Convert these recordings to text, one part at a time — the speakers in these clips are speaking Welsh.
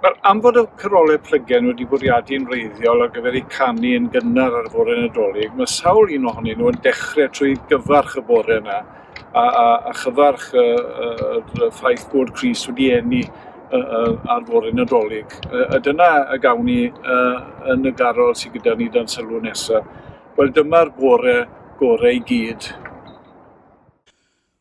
Mae'r anfod o Carolau Plygen wedi bwriadu yn wreiddiol ar gyfer eu canu yn gynnar ar y fore Nadolig, mae sawl un ohonyn nhw yn dechrau trwy gyfarch y bore yna, a, a, a chyfarch y, y, y ffaith bod Cris wedi enni ar fore Nadolig. A dyna y gawn ni yn y garol sydd gyda ni dan sylw nesaf. Wel, dyma'r bore gorau i gyd.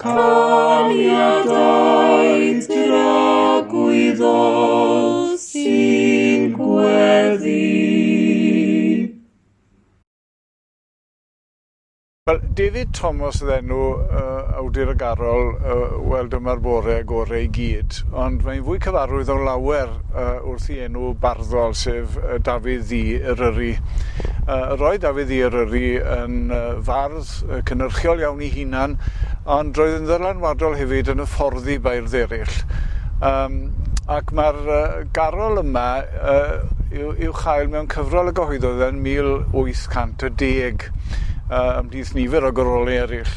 Caniadau dragwyddol sy'n gweddi. Wel, David Thomas oedd enw uh, awdur ag arol, uh, wel dyma'r bore gorau i gyd, ond mae'n fwy cyfarwydd o lawer uh, wrth i enw barddol, sef uh, Dafydd Ddi Eryri. Uh, roedd Dafydd Ddi Eryri yn uh, fardd fod yy cynyrchiol iawn 'i hunan, ond roedd yn ddylanwadol hefyd yn hyfforddi beirdd eraill. Yym ac mae'r yy garol yma yy i'w i'w chael mewn cyfrol y gyhoeddodd yn 1810 yy ymhlith nifer o gyrolau eraill.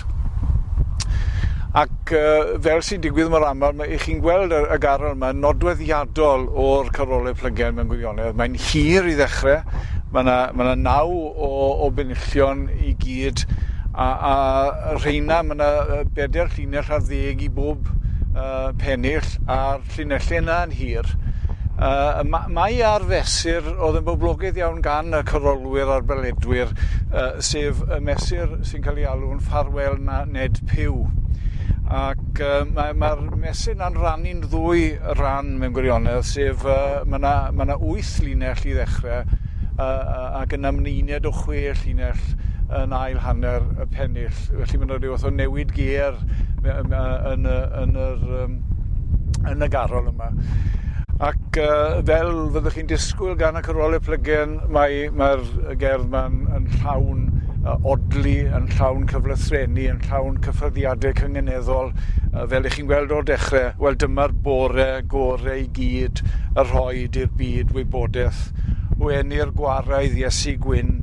Ac yy fel sy'n digwydd mor aml, mae chi'n gweld y, y garol yma nodweddiadol o'r carolau plygen mewn gwirionedd. Mae'n hir i ddechrau, mae yna, mae yna naw o o fynlltion i gyd a a rheina ma' 'na yy beder llinell ar ddeg i bob yy pennill a'r llinelle yna'n hir. Yy ma' mae ar fesur oedd yn boblogaidd iawn gan y corolwyr a'r beledwyr yy sef y mesur sy'n cael ei alw'n Ffarwel na Ned Pugh. Ac yy mae mae'r mesur 'na'n rannu'n ddwy ran mewn gwirionedd sef yy ma' 'na ma' 'na wyth llinell i ddechrau yy yy ac yn ymwneud o chwe llinell yn ail hanner y pennill. Felly mae'n rhyw fath o newid ger yn, yn, yn, yr, yn y garol yma. Ac uh, fel fyddwch chi'n disgwyl gan y cyrolau plygen, mae'r mae, mae gerdd ma'n yn llawn uh, odlu, yn llawn cyflethrenu, yn llawn cyffyrddiadau cyngeneddol, uh, fel ych chi'n gweld o'r dechrau. Wel, dyma'r bore gore i gyd y rhoi Bwyd i'r Byd wybodaeth o eni'r gwaraidd Iesu Gwyn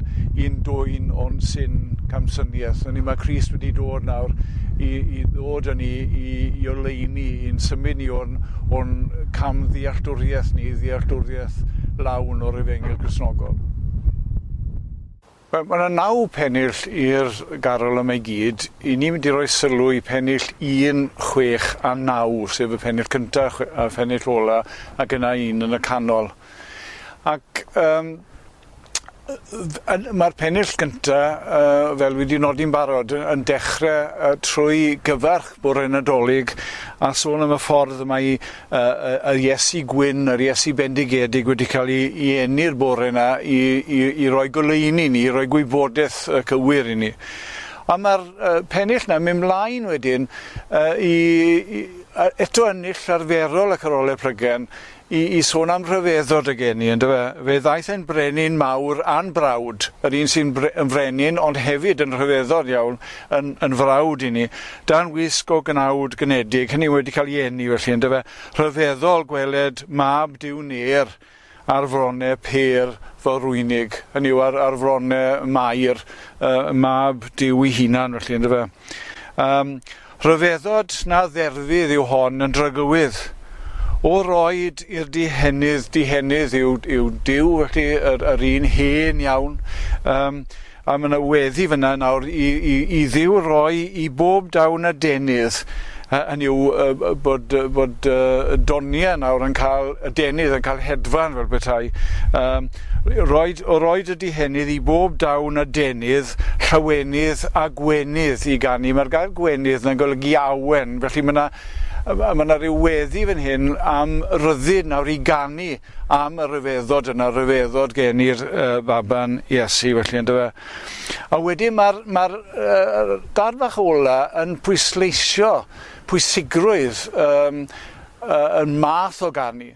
i'n dwyn o'n syn camsyniaeth. Hynny, mae Christ wedi dod nawr i, i ddod yn ni, i, i oleini, i'n symud ni o'n, o'n cam ddealltwriaeth ni, ddealltwriaeth lawn o'r efengil grisnogol. Wel, mae 'na naw pennill i'r garol yma i gyd. 'Y ni'n mynd i roi sylw i pennill un, chwech a naw, sef y pennill cynta a phennill ola, ac yna un yn y canol. Ac um, mae'r pennill gynta, uh, fel wedi nodi'n barod, yn dechrau uh, trwy gyfarch bore Nadolig a sôn am y ffordd mae Yr Iesu gwyn, yr Iesu bendigedig wedi cael ei, ei enni'r bore yna i, i, i roi goleuni ni, i roi gwybodaeth uh, cywir i ni. A mae'r uh, pennill yna mynd mlaen wedyn uh, i, i, eto ennill arferol ac arolau plygen i, i sôn am rhyfeddod y geni, ynddo fe? Fe ddaeth e'n brenin mawr a'n brawd, yr un sy'n bre, yn frenin ond hefyd yn rhyfeddod iawn, yn yn frawd i ni, dan wisg o gnawd gnedig, hynny yw wedi cael ei eni felly yndyfe. Rhyfeddol gweled mab Duw Nêr ar frone pêr fel rwynig, hynny yw ar, ar frone Mair, uh, mab Duw ei hunan felly yndyfe. Um, rhyfeddod na dderfydd yw hon yn drygywydd. O roed i'r dihenydd, dihenydd yw, yw Duw felly yr, yr un hen iawn, um, A ma' 'na weddi fynna nawr i i i Dduw roi i bob dawn adenydd, hy- hynny yw yy yy bod yy bod yy y donie nawr yn ca'l adenydd yn ca'l hedfan fel petai. Yym r- roid o roid y dihenydd i bob dawn adenydd, llawenydd a gwenydd i ganu. Ma'r gair gwenydd 'na'n golygu awen, felly ma' 'na yy ma' 'na ryw weddi fan hyn am ryddid nawr i ganu am y rhyfeddod yna, rhyfeddod gen i'r uh, baban Iesu felly ynddo fe. A wedyn mae'r ma uh, dad fach ola yn pwysleisio pwysigrwydd um, uh, yn math o ganu.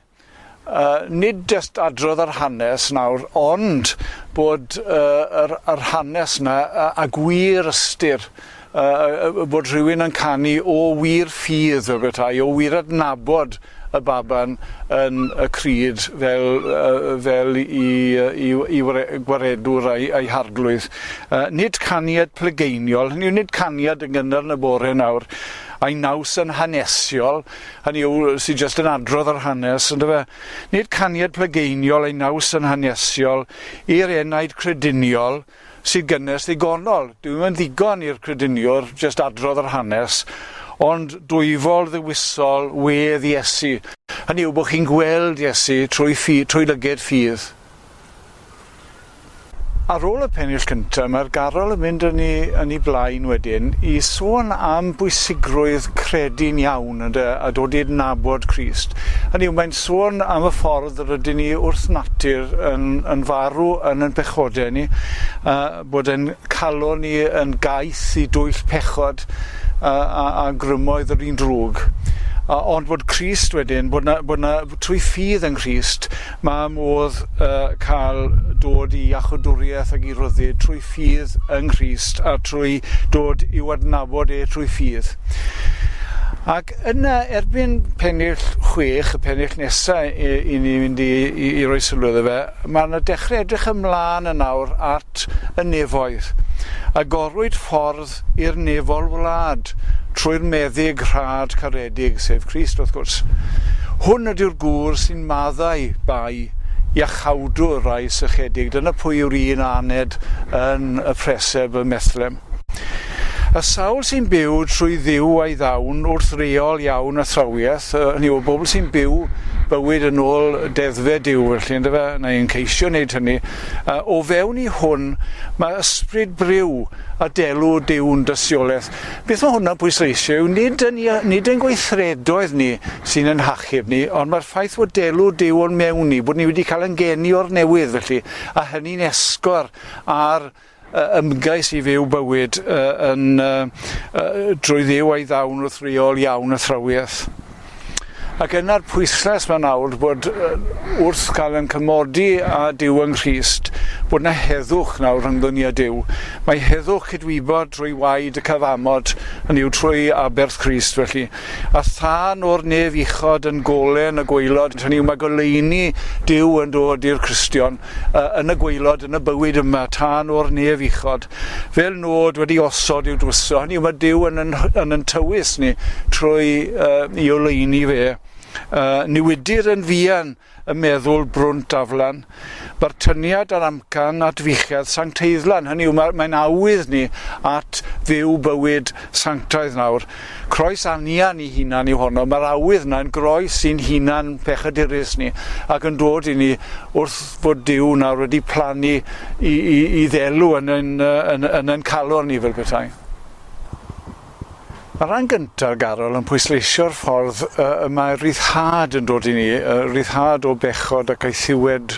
Uh, nid just adrodd yr hanes nawr, ond bod uh, yr, yr hanes yna a, a gwir ystyr Yy yy bod rhywun yn canu o wir ffydd fel petai, o wir adnabod y baban yn y crud fel yy fel 'i yy 'i 'i wre- gwaredwr a'i a'i harglwydd. Yy nid caniad plegeiniol, hynny yw nid caniad yn gynnar yn y bore nawr, a'i naws yn hanesiol, hynny yw sy jyst yn adrodd yr hanes on'd yfe? Nid caniad plegeiniol a'i naws yn hanesiol i'r enaid crediniol, sy'n gynnes ddigonol. Dyw e'm yn ddigon i'r crediniwr jyst adrodd yr hanes, ond dwyfol ddewisol wedd Iesu. Hynny yw bod chi'n gweld Iesu trwy ffi, trwy lyged ffydd. Ar ôl y pennill cyntaf, mae'r garol yn mynd yn ei, yn ei blaen wedyn i sôn am bwysigrwydd credu'n iawn, ynde, a dod i adnabod Crist. Hynny yw, mae'n sôn am y ffordd Rydyn ni wrth natur yn, yn farw yn yn pechodau ni, a bod yn calon ni yn gaeth i dwyll pechod a, a, a grymoedd yr un drwg. A, ond bod Christ wedyn, bod na, bod na trwy ffydd yng Nghrist, mae modd uh, cael dod i achodwriaeth ac i ryddid trwy ffydd yng Nghrist a trwy dod i'w adnabod e trwy ffydd. Ac Yna, erbyn pennill chwech, y pennill nesaf i, i ni fynd i, i, i roi sylw iddo fe, mae yna dechrau edrych ymlaen yn awr at y nefoedd. Agorwyd ffordd i'r nefol wlad trwy'r meddyg rhad caredig, sef Christ wrth gwrs. Hwn ydyw'r gŵr sy'n maddau bai iachawdwr rai sychedig. Dyna pwy yw'r un aned yn y preseb ym Methlem. Y sawl sy'n byw trwy Dduw a'i ddawn wrth reol iawn athrawiaeth, hynny yw, y bobl sy'n byw bywyd yn ôl deddfau Duw, felly, ynddo fe, neu'n ceisio wneud hynny, o fewn i hwn, mae ysbryd briw a delw Duw'n dystiolaeth. Beth mae hwnna'n pwysleisio yw nid yn, nid yn gweithredoedd ni sy'n yn hachub ni, ond mae'r ffaith bod delw Duw o'n mewn ni, bod ni wedi cael yn geni o'r newydd, felly, a hynny'n esgor ar ymgais i fyw bywyd yn drwy ddiw a'i ddawn wrth reol iawn y thrawiaeth. Ac yna'r pwyslais mae'n awr bod wrth gael yn cymodi a Dyw yng Nghrist, bod yna heddwch nawr rhyngddwn ni a Dyw. Mae heddwch cydwybod drwy waed y cyfamod, yn yw trwy aberth Crist felly, a thân o'r nef uchod yn golen y gwaelod, hynny yw mae goleuni Dyw yn dod i'r Cristion. yn y gwaelod, yn y bywyd yma, tân o'r nef uchod, fel nod wedi osod i'w dwyso. Hynny yw, mae Dyw yn yn, yn yn tywys ni trwy uh, i oleini fe. Uh, newidir yn fuan y meddwl brwnt aflan. Mae'r tyniad ar amcan at fuchedd sancteiddlan, hynny yw, mae'n mae awydd ni at fyw bywyd sanctaidd nawr. Croes anian i hunan yw honno, mae'r awydd yna yn groes i'n hunan pechadurus ni, ac yn dod i ni wrth fod Duw nawr wedi plannu i, i, i ddelw yn yn, yn, yn yn calon ni fel petai. Mae rhan gyntaf garol yn pwysleisio'r ffordd uh, y mae rhyddhad yn dod i ni, uh, rhyddhad o bechod ac eithiwed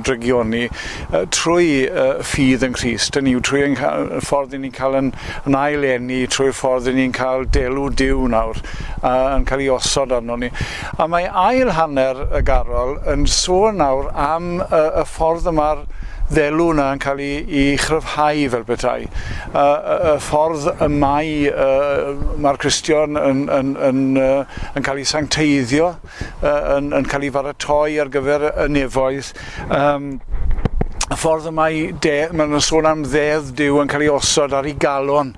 drygioni uh, trwy uh, ffydd yng Nghyst. Hynny yw trwy ein ffordd i ni'n cael yn yn ail eni trwy'r ffordd ry'n ni'n cael delw Duw nawr uh, yn cael ei osod arno ni. A mae ail hanner y garol yn sôn nawr am uh, y ffordd y mae'r ddelw yna yn cael ei, ei chryfhau fel petai. Uh, y ffordd y mae uh, mae'r Cristion yn, yn, yn, uh, yn cael ei sancteiddio yn, yn cael ei faratoi ar gyfer y nefoedd. Um, y ffordd y mae de, mae'n sôn am ddedd Dyw yn cael ei osod ar ei galon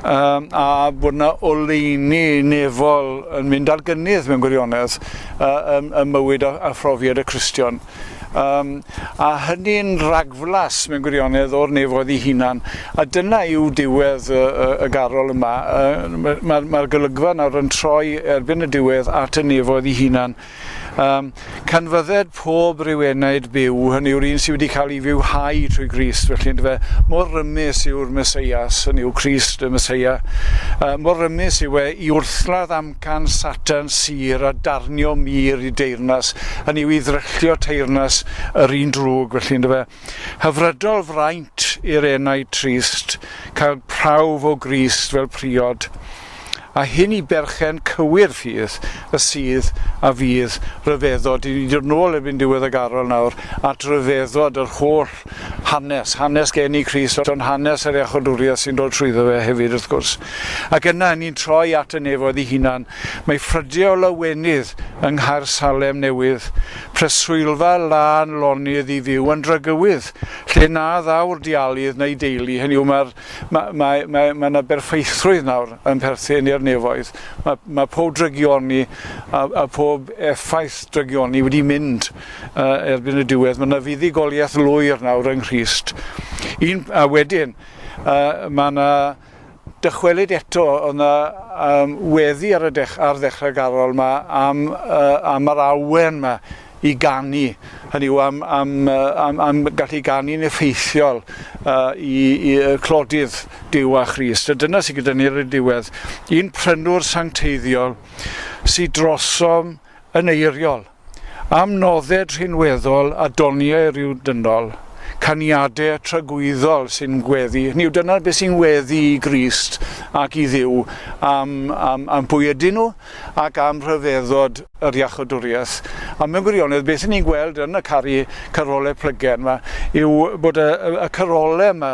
um, a bod yna oleini nefol yn mynd ar gynnydd mewn gwirionedd uh, ym, ym mywyd a, a phrofiad y Cristion. Um, a hynny'n ragflas mewn gwirionedd o'r nefoedd i hunan. A dyna yw diwedd y, y, y garol yma. Mae'r ma, ma golygfa nawr yn troi erbyn y diwedd at y nefoedd i hunan. Um, canfydded pob rhyw enaid byw, hynny yw'r un sydd wedi cael ei fywhau trwy Grist, felly ynddo fe, mor rymus yw'r Meseias, hynny yw Crist y Meseia, uh, mor rymus yw e i wrthladd am Can Satern Syr a darnio mur i deyrnas, hynny yw i ddryllio teyrnas yr un drwg, felly, yn dyfe? Hyfrydol fraint i'r enaid trist cael prawf o Grist fel priod, a hyn i berchen cywir fydd y sydd a fydd ryfeddod, i ni ddod nôl erbyn diwedd y garol nawr at ryfeddod yr holl Hanes, hanes geni i Christ, ond hanes yr iachawdwriaeth sy'n dod trwyddo fe hefyd wrth gwrs. Ac yna, ni'n troi at y nefoedd ei hunan. Mae ffrydiau o lawenydd yng Nghaer Salem Newydd, preswylfa lân lonydd i fyw yn Drygywydd, lle na ddaw'r dialydd na'i deulu, hynny yw mae'r, mae, mae, mae, mae yna berffeithrwydd nawr yn perthyn i'r nefoedd. Mae, mae pob drygioni a, a pob effaith drygioni wedi mynd. erbyn y diwedd. Mae yna fuddugoliaeth lwyr nawr yng Nghrist. Un, a wedyn, uh, mae yna dychwelyd eto, oedd yna um, weddi ar, y dech, ar ddechrau garol yma am, uh, am yr awen yma i ganu, hynny yw am, am, am, am gallu ganu'n effeithiol uh, i, i uh, clodydd Dyw a Christ. A dyna sy'n gyda ni ar y diwedd, un prynwr sancteiddiol sy'n drosom yn eiriol. Am nodded rhinweddol a doniau rhyw dynol, caniade tragwyddol sy'n gweddu, hynny yw dyna beth sy'n weddu i Grist ac i Dduw am, am, am pwy ydyn nhw ac am rhyfeddod yr iachodwriaeth. A mewn gwirionedd, beth ni'n gweld yn y cari carole plygen yma yw bod y, y, y carole yma